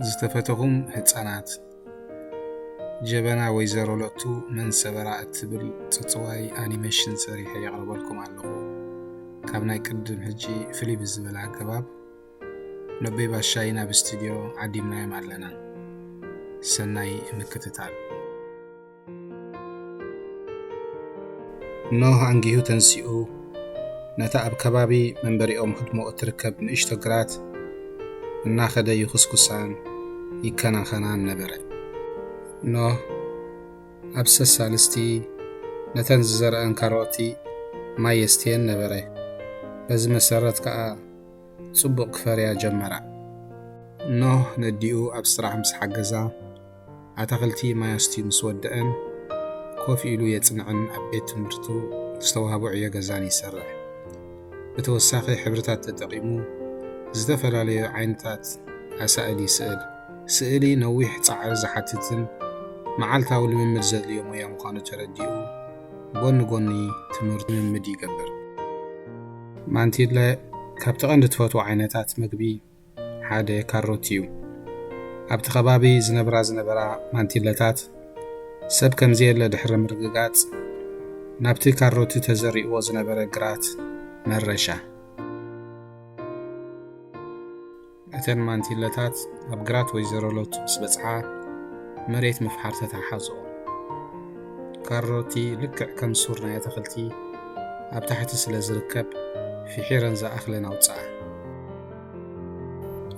ዝተፈተኹም ህፃናት ጀበና ወይዘሮ ሎቱ መን ሰበራ እትብል ፅፅዋይ ኣኒሜሽን ሰሪሐ የቕርበልኩም ኣለኹ ካብ ናይ ቅድም ሕጂ ፍልይ ብዝበለ ኣገባብ ኖቤ ባሻይ ናብ ስቱድዮ ዓዲምናዮም ኣለና ሰናይ ምክትታል ኖህ ኣንጊሁ ተንሲኡ ነታ ኣብ ከባቢ መንበሪኦም ህድሞ እትርከብ ንእሽቶ ግራት እናኸደ ይኹስኩሳን ይከናኸናን ነበረ። ኖህ ኣብ ሰሳልስቲ ነተን ዝዘረአን ካሮቲ ማይ የስትየን ነበረ። በዚ መሰረት ከዓ ጽቡቕ ክፈርያ ጀመራ። ኖህ ነዲኡ ኣብ ስራሕ ምስ ሓገዛ ኣታኽልቲ ማይ ኣስትዩ ምስ ወደኣን ኮፍ ኢሉ የጽንዕን ኣብ ቤት ትምህርቱ ዝተዋህቦ ዕዮ ገዛን ይሰርሕ። ብተወሳኺ ሕብርታት ተጠቒሙ ዝተፈላለዩ ዓይነታት ኣሳእል ይስእል። ስእሊ ነዊሕ ጻዕሪ ዝሓትትን መዓልታዊ ልምምድ ዘድልዮ ሞያ ምዃኑ ተረዲኡ ጎኒ ጎኒ ትምህርቱ ልምምድ ይገብር። ማንቲለ ካብቲ ቀንዲ ትፈትዎ ዓይነታት መግቢ ሓደ ካሮት እዩ። ኣብቲ ከባቢ ዝነብራ ዝነበራ ማንቲለታት ሰብ ከምዘየለ ድሕሪ ምርግጋጽ፣ ናብቲ ካሮቲ ተዘሪእዎ ዝነበረ ግራት መረሻ። እተን ማንቲለታት ኣብ ግራት ወይዘሮ ሎቱ ምስ በጽሓ፣ መሬት ምፍሓር ተታሓሓዞ። ካሮቲ ልክዕ ከም ሱር ናይ ኣትኽልቲ ኣብ ታሕቲ ስለ ዝርከብ ፍሒረን ዝኣኽለን ኣውፅኣ።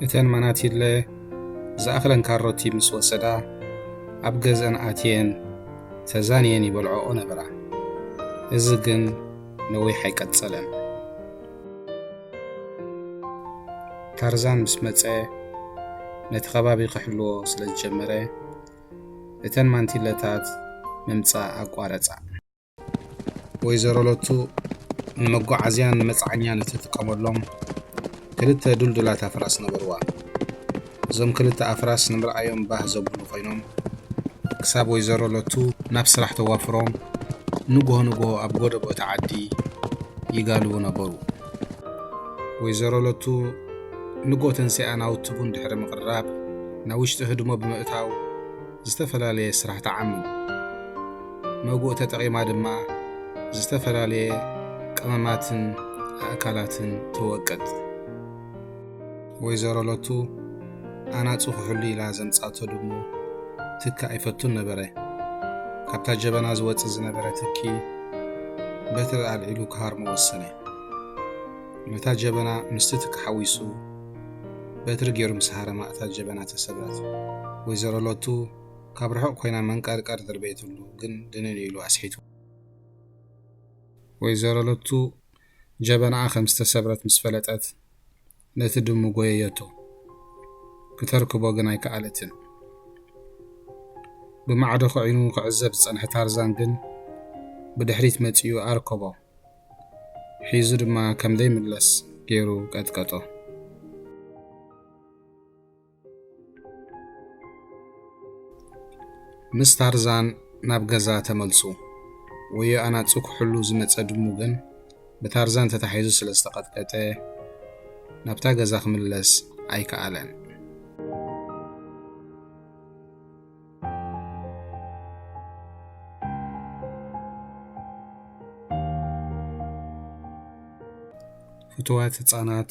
እተን መናቲለ ዝኣኽለን ካሮቲ ምስ ወሰዳ ኣብ ገዝአን ኣትየን ተዛንየን ይበልዖኦ ነበራ። እዚ ግን ነዊሕ ኣይቀፀለን። ታርዛን ምስ መፀ ነቲ ከባቢ ክሕልዎ ስለ ዝጀመረ እተን ማንቲለታት ምምጻእ ኣቋረጻ። ወይዘሮ ሎቱ ንመጓዓዝያን ንመጽዓኛን እትጥቀመሎም ክልተ ዱልዱላት ኣፍራስ ነበርዋ። እዞም ክልተ ኣፍራስ ንምርኣዮም ባህ ዘብሉ ኮይኖም ክሳብ ወይዘሮ ሎቱ ናብ ስራሕ ተዋፍሮም ንግሆ ንግሆ ኣብ ጎደቦ እቲ ዓዲ ይጋልቡ ነበሩ። ወይዘሮ ለቱ ንግሆ ተንሲኣ ናውቲ ቡን ድሕሪ ምቕራብ ናብ ውሽጢ ህድሞ ብምእታው ዝተፈላለየ ስራሕ ትዓምም። መጉእ ተጠቒማ ድማ ዝተፈላለየ ቀመማትን ኣእካላትን ትወቅጥ። ወይዘሮ ሎቱ ኣናጹ ክሕሉ ኢላ ዘምጻቶ ድሙ ትኪ ኣይፈቱን ነበረ። ካብታ ጀበና ዝወጽእ ዝነበረ ትኪ በትሪ ኣልዒሉ ክሃርሞ ወሰነ። ነታ ጀበና ምስቲ ትኪ ሓዊሱ በትሪ ገይሩ ምስ ሃረማ እታ ጀበና ተሰብረት። ወይዘሮ ሎቱ ካብ ርሑቕ ኮይና መንቀርቀር ደርበየትሉ፣ ግን ድንን ኢሉ ኣስሒቱ። ወይዘሮ ሎቱ ጀበናኣ ከም ዝተሰብረት ምስ ፈለጠት ነቲ ድሙ ጎየየቶ። ክተርክቦ ግን ኣይከኣለትን። ብማዕዶ ክዒኑ ክዕዘብ ዝጸንሐ ታርዛን ግን ብድሕሪት መጺኡ ኣርከቦ። ሒዙ ድማ ከም ዘይምለስ ገይሩ ቀጥቀጦ። ምስ ታርዛን ናብ ገዛ ተመልሱ። ወዮ ኣናጹ ክሕሉ ዝመጸ ድሙ ግን ብታርዛን ተታሒዙ ስለ ዝተቐጥቀጠ ናብታ ገዛ ክምለስ ኣይከኣለን። ፍትዋት ህጻናት